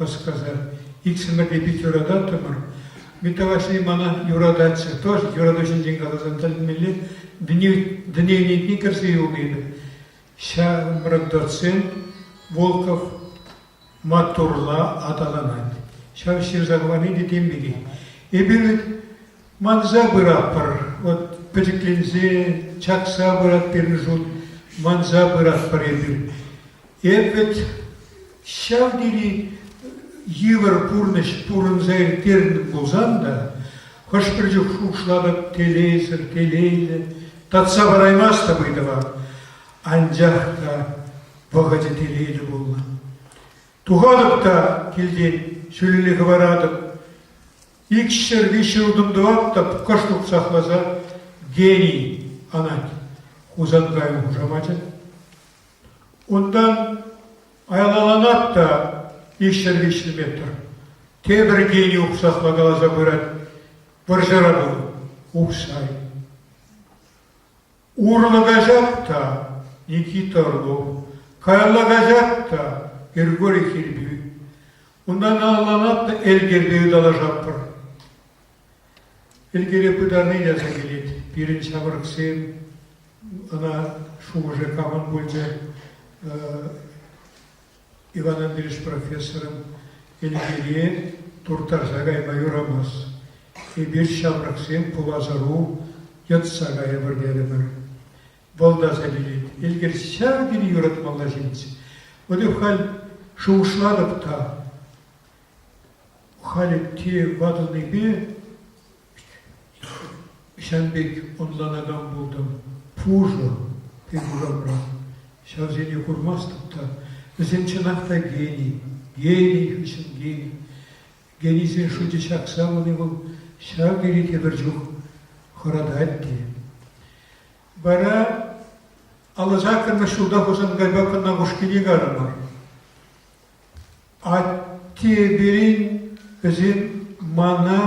Ӑс-хӑсӑр. Иксӗмӗр эпир юрататтӑмӑр. Митта Ваҫли мана юрататчӗ. Тоже юрату ҫинчен каласан тӗлӗнмелле дни ӗненни кӗрсе юлнӑ эпӗ. Ҫамрӑк доцент Волков маттурла аталанать. Ҫав ҫырса хӑварни те тем пекех. Эпир вӗт манса пыратпӑр. Вӑт пӗчӗкленсе чакса пырать пирӗн шут. Манса пыратпӑр эпир. Эпӗт ҫав тери йывӑр пурнӑҫ пурӑнса ирттернӗ пулсан та хӑш-пӗр чух шухӑшлатӑп телейсӗр, телейлӗ, татса параймастӑп ыйтӑва. Анчах та вӑхӑчӗ телейлӗ пулнӑ. Тухатӑп та килтен ҫӳлелле хӑваратӑп. Икҫӗр виҫҫӗр утӑм тӑвап та пукаш сахласа гений анать. Хусанкай хушамачӗ Унтан аялаланап та виҫҫӗр-виҫҫӗ метр. Тепӗр килне упсахма каласа пырать. Вӑрҫӑра пул, упсай. Урлӑ каҫап та Никита Орлов, каялла каҫап та Григорий Хирпи. Унтан аялланап та Элкерпе ыталашаппӑр. Йӗркере пытанни ярса килет. Пирӗн ҫамрӑксем, ӑна шухӑшӗ камӑн пулчӗ, Иван Андреевич профессорӑн, Эльгире турттарса кайма юрамасть. Эпир ҫамрӑксем пулас-ӑру йӑтса кайӑпӑр терӗмӗр. Вӑл та сӗнет, Эльгир ҫав тери юратмалла ҫынч. Эпӗ халь шухӑшлатӑп та, халӗ те ватӑлнипе ҫан пек ӑнланакан пултӑм. Пушӑ пек урамра. Ҫавсене курмастӑп та. Вӗсем чӑнах та гений. Гений хыҫҫӑн гений. Генисен шучӗ чакса пыни вӑл ҫав тери тепӗр чух хӑратать те. Вара алла саккӑрмӗш ҫулта Хусанкайпа Кӑнакушкине картӑмӑр. Атте пирӗн вӗсем мана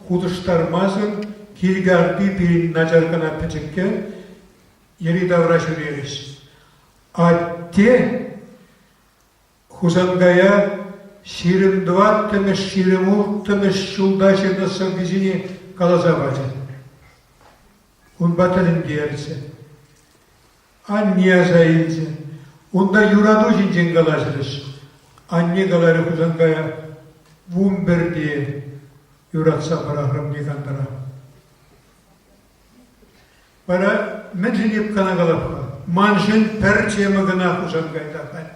хутӑштармасӑр кил карти пирӗн начар кӑна пӗчӗккӗ йӗри-тавра ҫӳрерӗҫ. Атте Хусанкая ҫирӗм тӑваттӑмӗш ҫирӗм улттӑмӗш ҫулта ҫырнӑ сӑввисене каласа пачӗ. Унпа тӗлӗнтерчӗ. Анне аса илчӗ. Унта юрату ҫинчен калаҫрӗҫ. Анне каларӗ Хусанкая вумберте юратса пӑрахрӑм никамтӑра. Вара мӗншӗн эп кана калап-ха? Маншӑн пӗр чӗмӗ кӑна Хусанкайта халь.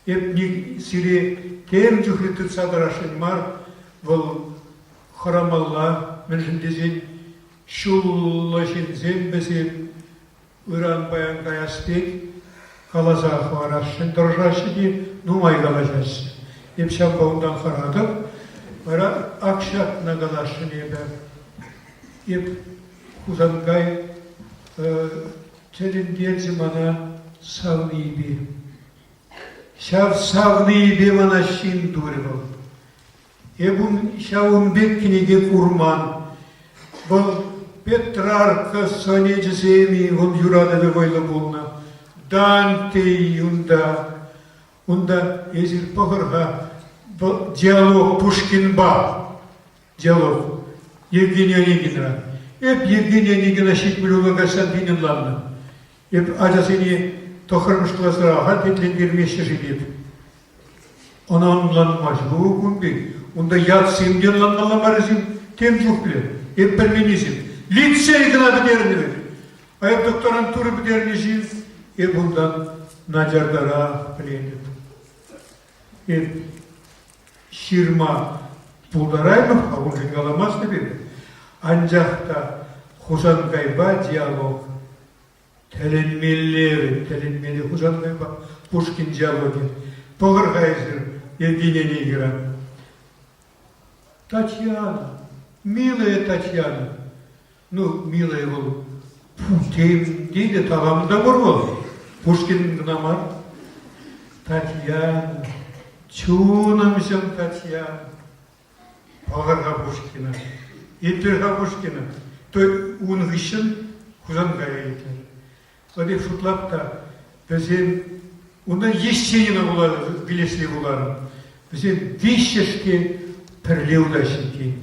Эп сире тем чухлӗ тытса тӑрасшӑн мар. Вӑл хӑрамалла, мӗншӗн тесен ҫуллӑ ҫынсем вӗсем Ыран паян каяс пек каласа хӑварасшӑн тӑрӑшаҫҫӗ те нумай калаҫаҫҫӗ. Эп ҫапла унтан хӑратӑп. Вара ак ҫакна каласшӑн эпӗ. Эп Хусанкай тӗлӗнтерчӗ мана савнийӗпе. Ҫав савнийӗпе мана ҫын турӗ вӑл. Эп ун ҫавӑн пек кӗнеке курман. Вӑл Петрарка сонечӗсем-и вӑл юратӑвӗ вӑйлӑ пулнӑ. Данте-и унта? Унта эсир пӑхӑр-ха вӑл диалог Пушкинпа. Диалог Евгения Онегина. Эп Евгения Онегина ҫитмӗле каҫсан пин ӑнланнӑ. Эп ачасене тӑххӑрмӗш класра ахаль тетлентермеҫҫӗ-ши тет. Ӑна ӑнланма ҫук кун пек. Унта ятсем те ӑнланмалла мар-шим? Тем чухлӗ. Эп пӗлменисем. Лицей кӑна пӗтернӗ вӗт. А эп докторантура пӗтернӗ-ши? Эп унтан начартарах пӗленӗп. Эп ҫырма пултараймӑп-ха уншӑн каламастӑп эпӗ, анчах та Хусанкайпа диалог тӗлӗнмелле вӗт, тӗлӗнмелле Хусанкайпа Пушкин диалогӗ. Пӑхӑр-ха эсир Евгения Негера. Татьяна, милая Татьяна, Ну, милый вӑл, тем тенӗ тавам та пур вӑл. Пушкин кӑна мар. Татьяна, чунӑмҫӑм Татьяна, палӑка Пушкина. Эпир-ха Пушкина, то ун хыҫҫӑн Хусанкая итлер. Эпир шутлап та, вӗсем, унта виҫҫӗ йӑна вуларӗ, вилесле вуларӑм. Вӗсем виҫҫӗшке пӗрле утаҫҫӗ иккен.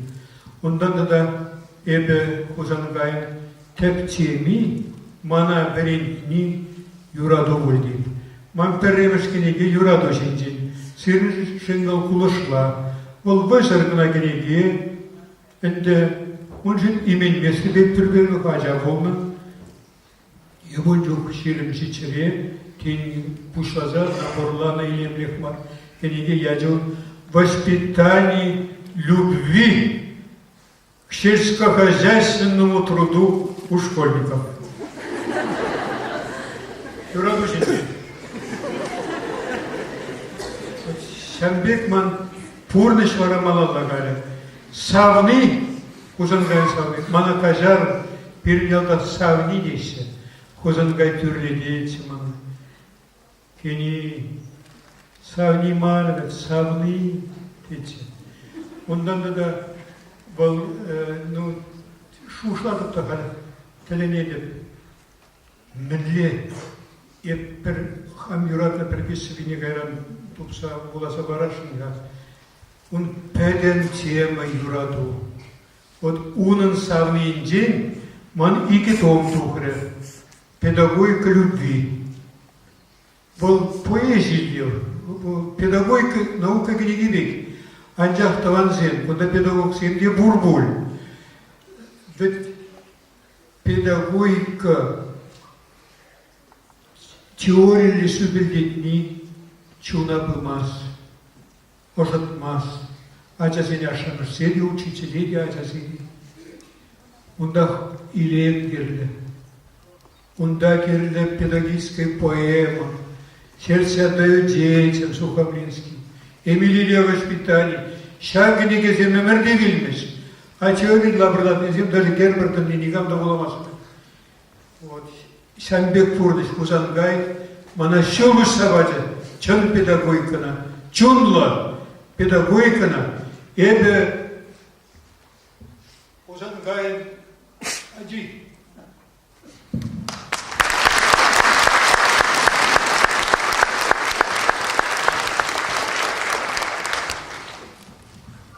Унтан тата эпӗ Хусанкайӑн тӗп теми мана вӗрентни юрату пуль тет. Ман пӗрремӗш кӗнеке юрату ҫинчен. Сирӗншӗн вӑл кулӑшла. Вӑл вӑйсӑр кӑна кӗнеке. Ӗнтӗ уншӑн именместӗп эп пӗр-пӗринпе ача пулнӑ. Йывӑр чух ҫирӗм ҫиччӗре тин пуҫласа наборланӑ илемлех мар кӗнеке ячӗ «Воспитание любви к сельскохозяйственному труду у школьников». Юратуҫӑ-ши? Ҫан пек ман пурнӑҫ вара малалла кайрӗ. Савни, Хусанкай савни, мана каҫарӑр, пирӗн ялта савни теҫҫӗ. Хусанкай тӳрлӗ тетчӗ мана. Кини, савни мар, савни, тетчӗ. Унтан тата вӑл, ну, шухӑшлатӑп та халь, тӗлӗнетӗп. Мӗнле, эп пӗр хам юратнӑ пӗр песикене кайран тупса вуласа парасшӑн-ха. Ун пӗтӗм тема юрату. От унӑн савнийӗнчен ман икӗ том тухрӗ. Педагогика любви. Вӑл поэзи илнӗ, вӑл педагогика, наука кӗнеки пек. Анчах тӑвансем, кунта педагогсем те пур пуль. Вӗт педагогика теорилле сӳпӗлтетни чуна пымасть, ӑшӑтмасть. Ачасене ашшӗ-амӑшсене те, учителе те, ачасене. Унтах илем кирлӗ. Унта кирлӗ педагогическая поэма, Херсятое детям, Сухомлинский, Эмилий Левович Виталий. Ҫав кӗнекесем ӗмӗрте килмӗҫ, а теорин лапӑрлатнисем даже Гербертӑн никам та вуламастӑр. Вот ҫан пек пурнӑҫ Хусан кайӑк мана ҫӑлкӑшса пачӗ чӑн педагогикӑна, чунлӑ педагогикӑна. Эпӗ Хусан кайӑк ачи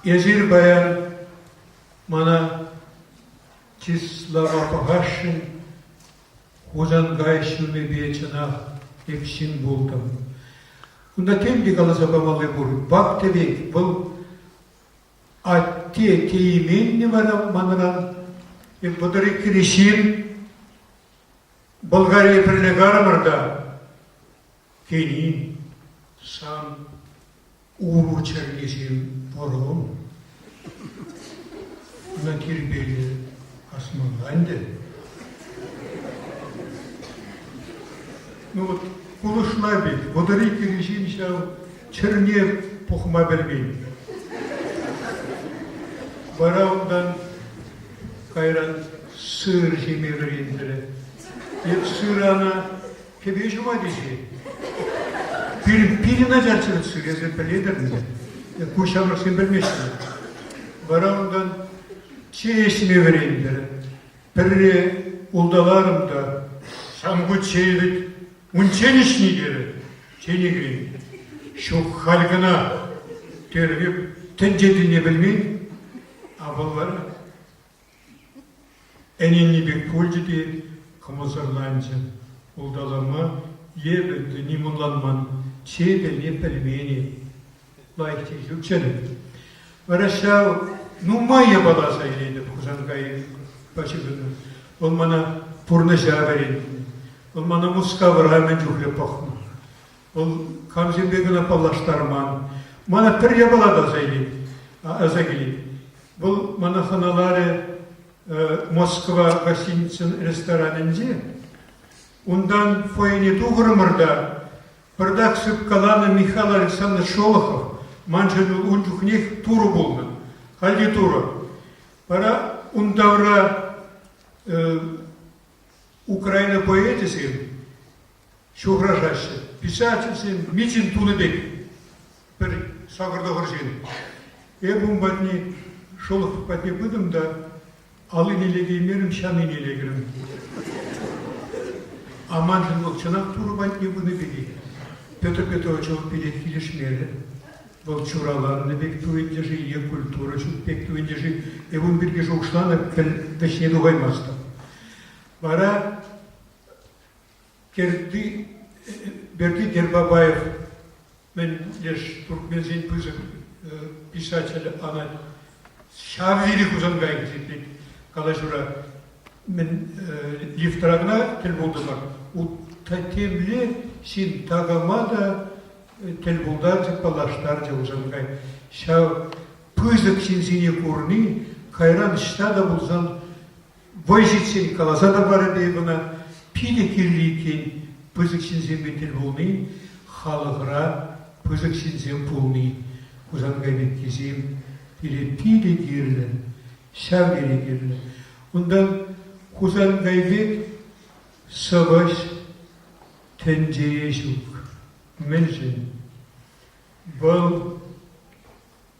Эсир паян мана чыслама пӑхасшӑн Хусанкай ҫумӗпе чӑнах эп ҫын пултӑм. Кунта тем те каласа памалли пур. Пак тӗвек, вӑл Атте теейменни вара манран МПДРКри ҫын, Болгарире пӗрле карӑмӑр та тени сан уру чӗркӗҫи ворон. Ӑна тирпейле Космонавт ӗнтӗ. Ну вот пулӑшла бит. Вӑтӑри кӗреҫен ҫав чӗрне пухма пӗлмен. Вара унтан кайран сыр ҫимерӗ инсере. Эп сыр ана Кӗпе ҫума тесе. Пирӗн начальствӑччӗ, эсӗ пӗлетӗр ӗнтӗ. Ку ҫамрӑксем пӗлмеҫҫӗ. Вара унтан чей ӗҫме вӗрентӗр. Пӗрре улталарӑм та, сан ку чей вӗт унччен ӗҫни терӗ. Ченегрен. Ҫук, халь кӑна, терӗ пек тӗнче тӗнне пӗлмен, а вӑл вара Ӗненнӗ пек пулчӗ те кӑмӑлсӑрланчӗ. Улталама евӗр те ним ӑнланман чей пӗлми пӗлменӗ лайӑххи ҫук чӗрӗ. Вара ҫав нумай япаласа илетӗп Хусанкай паҫӑрханна. Вӑл мана пурнӑҫа вӗрентнӗ. Вӑл мана Мускавра мӗн чухлӗ пӑхнӑ. Вӑл камсемпе кӑна паллаштарман. Мана пӗр япала та аса илет, аса килет. Вӑл мана хӑналарӗ Москва гостиницӑн ресторанӗнче. Унтан фойене тухрӑмӑр та пӑртак сыпкаланӑ Михаил Александрович Шолохов маншӑн ун чухнех Турӑ пулнӑ, халь те Турӑ. Вара ун тавра Украина поэчӗсем ҫухрашаҫҫӗ. Писательсем митинг тунӑ пек пӗр шакӑр-тӑхӑр ҫын. Эп ун патне Шолохов патне пытӑм та аллине лекеймерӗм, ҫанине лекрӗм. Аманшӑн вӑл чӑнах Турӑ патне пынӑ пекех. Петр Петрович вӑл пире килӗшмерӗ. Вӑл чураланнӑ пек туйӑнчӗ-ши е культура ҫук пек туйӑнчӗ-ши, эп ун пирки шухӑшланӑ вӗҫне тухаймастӑп. Вара Берди Дербабаев мӗн леш туркменсен пысӑк писателӗ анать. Ҫав тери Хусанкай хисеплет калаҫура. Мӗн лифтра кӑна тӗл пултӑмӑр. Темле ҫын такама та тӗл пултарчӗ, паллаштарчӗ Хусанкай. Ҫав пысӑк ҫынсене курни, кайран ӑҫта та пулсан Вӑй ҫитсен каласа та парать эп ӑна, питӗ кирли иккен пысӑк ҫынсемпе тӗл пулни, халӑхра пысӑк ҫынсем пулни. Хусанкай пеккисем пире питӗ кирлӗ, ҫав тери кирлӗ. Унтан Хусанкай пек сӑвӑҫ тӗнчее ҫук. Мӗншӗн? Вӑл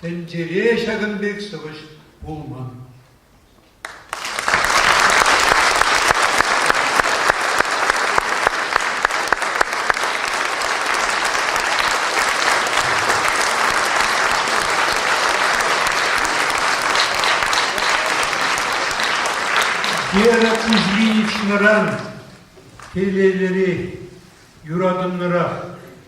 Тӗнчере ҫакӑн пек сӑвӑҫ пулман. Вера Кузьминичнӑран телейлӗри юратӑмлӑрах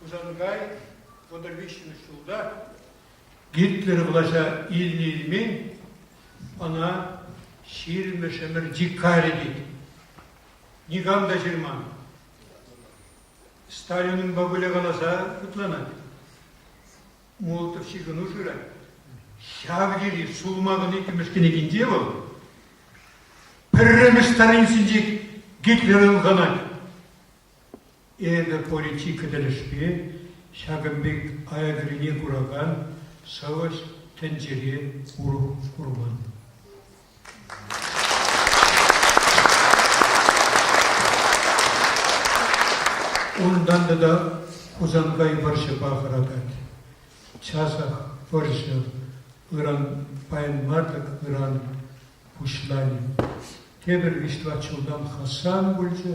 Хусанкай вӑтӑр виҫҫӗмӗш ҫулта Гитлер влаҫа илнӗ-илмен ӑна ҫирӗмӗш ӗмӗр дикарӗ тет. Никам та ҫырман. Сталинпа выльӑ каласа ытланать. Молотов ҫыхӑну шырать. Ҫав тери сулма кӑн иккӗмӗш кӗнекинче вӑл пӗрремӗш старинсенчех Гитлер ылханать. Эпӗ политика тӗлӗшпе ҫакӑн пек аякрине куракан сӑвӑҫ тӗнчере урӑх курман. Унтан тата Хусанкай вӑрҫӑпа хӑратать. Часах вӑрҫӑ ыран паян мар-тӑк ыран пуҫланӗ. Тепӗр виҫ-тӑват ҫултан Хасан пулчӗ.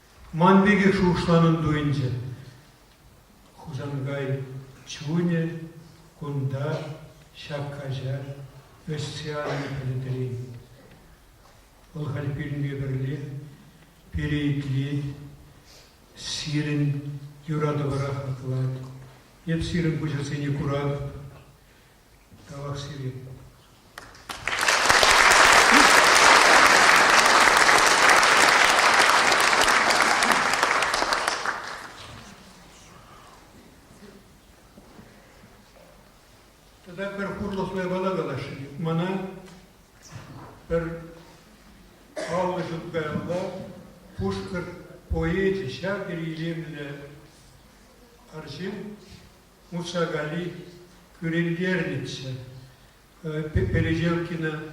Ман пекех шухӑшланӑн туйӑнчӗ. Хусанкай чунӗ кунта ҫак каҫа ӗҫсе анни пӗлӗтрен. Вӑл халь пирӗнпе пӗрле пире итлет, сирӗн юратӑвӑра хаклать. Эп сирӗн пуҫӑрсене куратӑп. Калас килет. Тата пӗр хурлӑхлӑ япала каласшӑн. Мана пӗр паллӑ ҫут каялла пушкӑрт поэчӗ, ҫав тери илемлӗ арҫын Учакали кӳрентернӗччӗ. Переделкина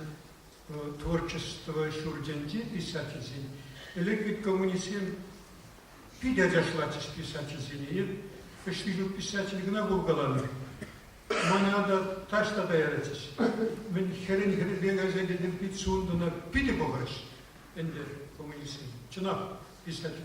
творчество ҫуртӗнчи писательсен, ӗлӗк коммунистсем питӗ ачашлатчӗҫ писательсене. Кӗҫни ҫул писатель кӑна куркаланӑ. Мана та таҫта таярчӗҫ. Мӗн хӗрӗн хӗрӗпе кайса кӗтӗм пит сунтӑна питӗ пӑхрӗҫ ӗнтӗ коммунистсем. Чӑнах писатель